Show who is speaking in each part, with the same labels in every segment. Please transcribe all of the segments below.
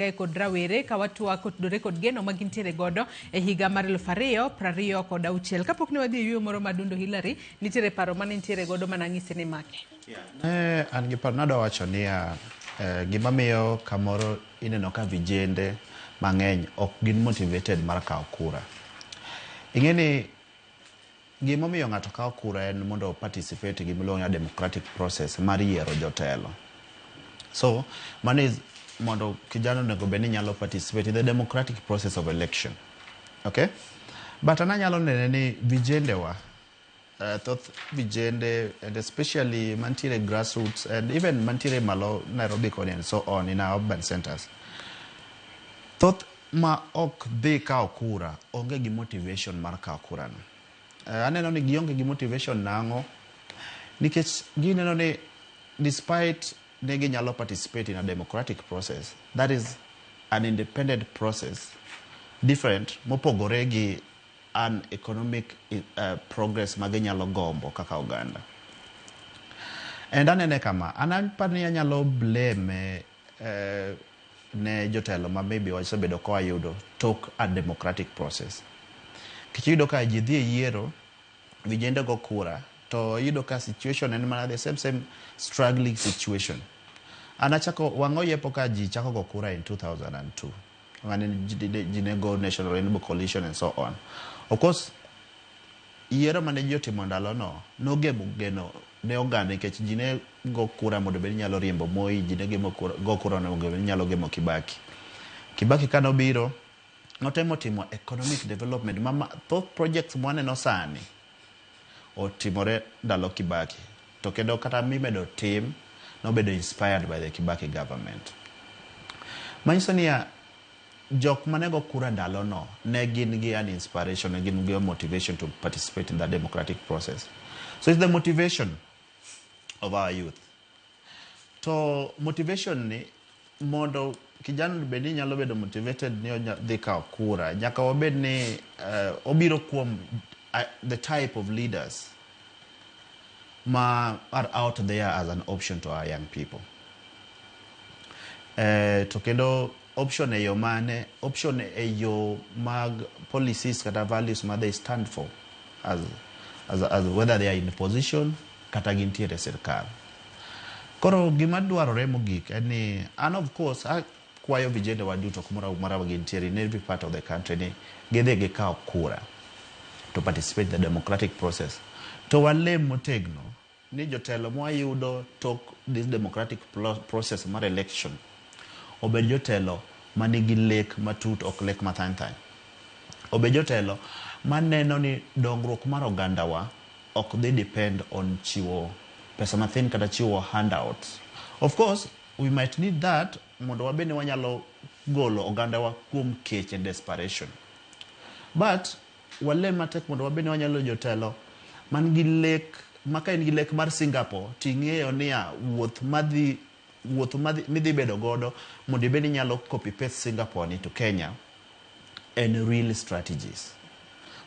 Speaker 1: Kae kod rawere ka watwak kotudore kod geno ma gintiere godo e higa mar eluf ariyo prariyo kod auchiel. Kapok ne wadhi e yueyo moro ma Dundo Hillary, nitiere paro mane intiere godo ma nang'isi ni make. Ne an
Speaker 2: gi paro, nadwa wacho niya, eh, gima miyo kamoro ineno ka vijende mang'eny ok gin motivated mar kawo kura. Ing'e ni Gima omiyo ng'ato kawo kura en mondo o participate gima iluongo ni democratic process mar yiero jotelo. So, mano is mondo kijana onego bed ni nyalo participate in the democratic process of election. Okay? But an anyalo nene ni vijende wa, uh, thoth vijende and especially mantiere grassroots and even mantiere malo Nairobi koni and so on in our urban centers. Thoth ma ok dhi kawo kura onge gi motivation mar kawo kura no. Eh, aneno ni gionge gi motivation nang'o? Nikech gineno ni despite ne ginyalo participate in a democratic process, that is an independent process different mopogore gi an economic uh, progress ma ginyalo gombo kaka oganda. And anene kama, an apani anyalo blame ne jotelo ma maybe wasebedo ka wayudo tok a democratic process. Kech iyudo ka ji dhi e yiero, vijende go kura, to iyudo ka situation en mana the same same struggling situation. An achako, wang'a oyepo ka ji chako go kura in 2002. mane ji ne go National Rainbow Coalition and so on. Of course, yiero mane ji otimo ndalono nogemo geno ne oganda nikech ji ne go kura mondo bed nyalo riembo Moi, ji ne gemo kura, go kura mondo bed nyalo gemo Kibaki. Kibaki ka nobiro, notemo timo economic development ma ma- thoth projects mwaneno sani Otimore ndalo Kibaki to kendo kata mimedo tim nobedo inspired by the Kibaki government. Manyiso niya jok manego kura ndalo no ne gin gi an inspiration, ne gin gi motivation to participate in the democratic process. So it's the motivation of our youth. To motivation ni mondo kijana ni bed ni nyalo bedo motivated ni onya dhi kawo kura, nyaka wabed ni uh, obiro kuom uh, the type of leaders ma are out there as an option to our young people. Eh, to kendo Option e yo mane? Option e yo mag policies kata values ma they stand for as, as, as whether they are in position kata gintiere e sirkal. Koro gima dwarore mogik en ni an of course akwayo vijende wa duto kumoro amora ma gintiere in every part of the country ni gidhi gikaw kura to participate in the democratic process to walem motegno ni jotelo mwayudo tok this democratic process mar election obed jotelo manigi lek matut ok lek mathany thany. Obed jotelo maneno ni dongruok mar ogandawa ok dhi depend on chiwo pesa mathin kata chiwo handouts. Of course, we might need that mondo wabed ni wanyalo golo ogandawa kuom kech and desperation. But Walem matek mondo wabed ni wanyalo bedo jotelo man gi lek ma ka in gi lek mar Singapore to ing'eyo niya wuoth madhi wuoth madhi midhi bedo godo mondo ibed ni inyalo copy paste Singapore ni to Kenya en real strategies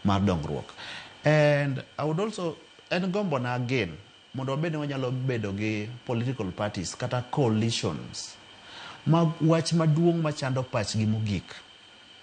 Speaker 2: mar dongruok. And I would also en gombo na again mondo wabed ni wanyalo bedo gi political parties kata coalitions ma wach maduong' machando pachgi mogik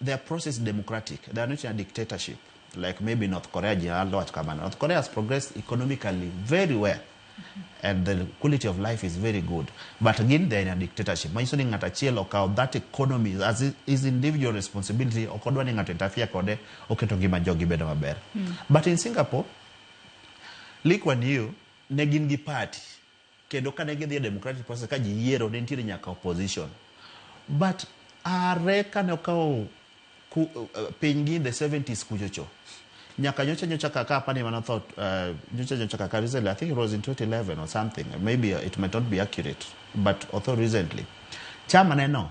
Speaker 2: They are process democratic. They are not in a dictatorship like maybe North Korea General Lord Kamana. North Korea has progressed economically very well. And the quality of life is very good. But again, they're in a dictatorship. Manyiso ni ng'ato achiel okawo that economy as his- his individual responsibility. Ok odwa ni ng'ato interfere kode, oketo ngima jogi bedo maber. But in Singapore, Lee Kuan Yew ne gin gi party Kendo kane gidhi e democratic process ka ji yiero ne nitiere nyaka opposition. But are kane okawo ku, uh, piny gi in the 70s kuchocho nyaka nyocha nyocha kaka apani mano thought uh, nyocha nyocha kaka recently i think it was in 2011 or something maybe it might not be accurate but although recently chama neno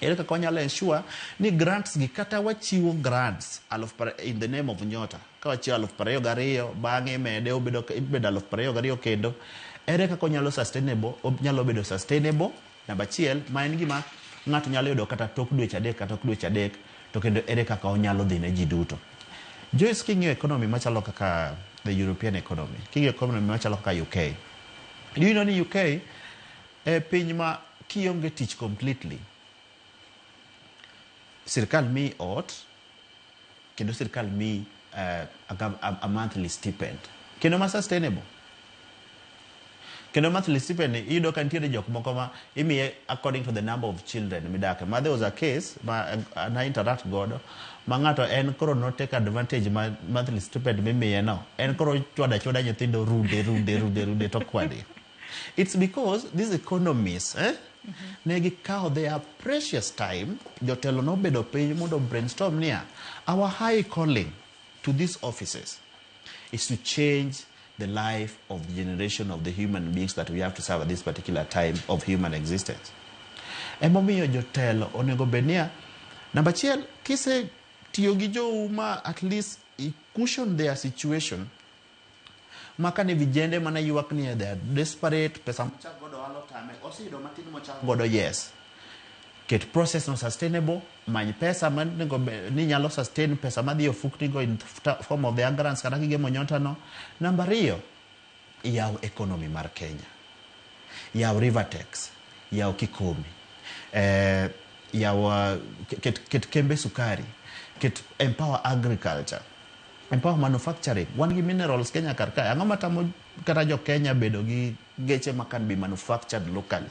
Speaker 2: Ere kaka wanyalo ensure ni grants gi kata wachiwo grants aluf in the name of Nyota ka wachiwo aluf prariyo gariyo bang'e imede obedo ibedo aluf prariyo gariyo kendo ere kaka onyalo sustainable onyalo bedo sustainable namba achiel ma en gima ng'ato nyalo yudo kata tok dweche adek kata tok dweche adek to kendo ere kaka onyalo dhi ne ji duto. Joyce king'iyo economy machalo kaka the European economy king'iyo economy machalo kaka UK do you know ni UK E piny ma kionge tich completely, sirkal miyi ot kendo sirkal miyi eh, a, gov- a, a monthly stipend kendo ma sustainable kendo monthly stipend ni iyudo ka nitiere jok moko ma imiye according to the number of children midake ma there was a case ma eh, na interact godo ma ng'ato en koro no take advantage ma monthly stipend mimiye no en koro chwada chwada nyithindo rude rude rude rude to kwade It's because these economists eh, ne gikawo their precious time jotelo nobedo piny mondo brainstorm niya our high calling to these offices is to change the life of the generation of the human beings that we have to serve at this particular time of human existence emomiyo jotelo onego bed niya namba achiel kise tiyo gi jou ma at least i cushion their situation Maka ni vijende mana yuak ni they are desperate, pesa mochak godo ohala otame, oseyudo matin mochak godo yes. Ket process no sustainable, many pesa ma nego be- ni nyalo sustain pesa madhi e ofukni go in the form of the angrance kata gige monyota no. Namba ariyo, yaw economy mar Kenya. Yaw Rivertex, yaw Kikomi, eh, yaw uh, ket, ket kembe sukari, ket empower agriculture, E power manufacturing, wan gi minerals Kenya kar kae. Ang'o matamo kata jo Kenya bedo gi geche ma can be manufactured locally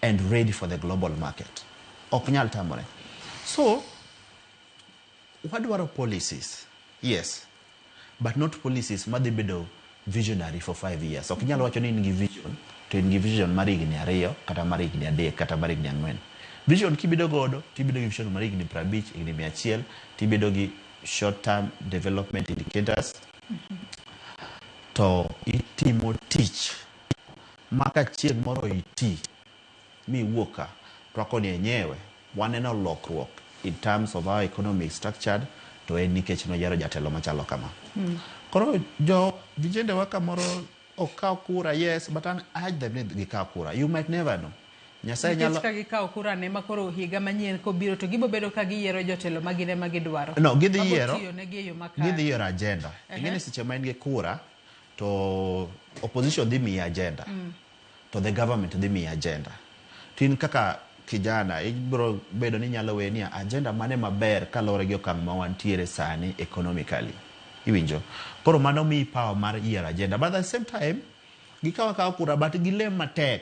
Speaker 2: and ready for the global market? Ok nyal tamore. So, wadwaro policies, yes, but not policies madhi bedo visionary for five years. Ok inyal wacho ni in gi vision to in gi vision mar higni ariyo kata mar higni adek kata mar higni ang'wen. Vision kibedo godo to ibedo gi vision mar higni piero abich, higni mia achiel to ibedo gi short term development indicators to itimo tich ma ka chieng' moro iti mi iwuok ka, to wako ni enyewe waneno lokruok in terms of our economy is structured to en nikech noyiero jatelo machalo kama. Koro jo vijende wa kamoro ok kaw kura, yes but an I urge them ni gikaw kura. You might never know. Nyasaye Nikech nyalo ka gikawo kura ne ma
Speaker 1: koro higa manyien kobiro to gibo bedo ka giyiero jotelo ma gin ema gidwaro. No, gidhi Mago yiero. tiyo
Speaker 2: negi e yo makare. gidhi yiero agenda. Ing'e ni seche ma in gi kura to opposition dhi miyi agenda. to the government dhi miyi agenda. To in kaka kijana ibiro bedo ni inyalo weye ni agenda mane maber kaluwore gi okang' ma wantiere sani economically. Iwinjo? Koro mano miyi power mar yiero agenda. But at the same time, gikaw akawa kura but gilem matek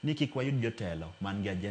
Speaker 2: ni kik wayud jotelo man gi agenda